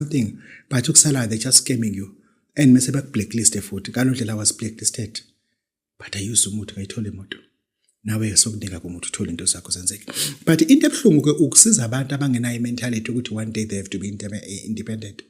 something but ukusalayo they just scamming you and mese bakublackliste futhi ngalo ndlela was blacklisted but i use umuthi ngayithola imoto nawe sokunika kumuntu uthola into zakho zenzeke but into ebuhlungu ke ukusiza abantu abangenayo imentality ukuthi one day they have to be eh, independent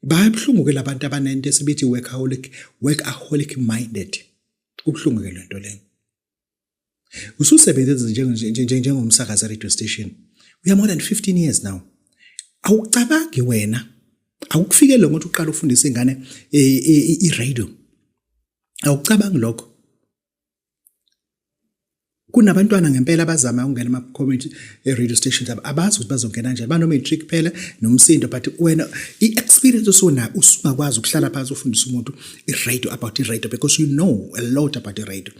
bayabuhlungu ke labantu abanento esibithi workaholic workaholic minded kubuhlungu ke lento leyo ususebenze njengomsakazi radio station we are more than 15 years now awucabangi wena awukufikele lo muntu uqala ufundisa ingane e, e, e, i-radio awucabangi lokho kunabantwana ngempela abazama ukungena ama-community radio stations abazi ukuthi bazongena njani bano-matric kuphela nomsindo but wena i-experience osona usungakwazi ukuhlala phansi ufundisa umuntu i-radio about i-radio because you know a lot about i-radio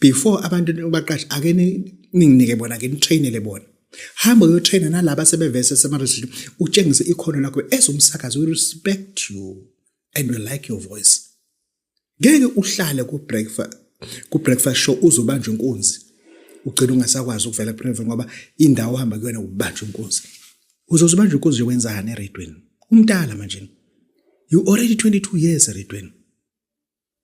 before abantu nibaqashe ake ninginike bona ke nitrainele bona hamba uyotraina nalaba sebevese semaresearch utshengise ikhono lakho as umsakazi we respect you and we like your voice ngeke uhlale ku breakfast ku breakfast show uzobanja inkunzi ugcina ungasakwazi ukuvela private ngoba indawo hamba kuyona ubanja inkunzi uzozibanja inkunzi yokwenzani eredweni umntala manje you already 22 years eredweni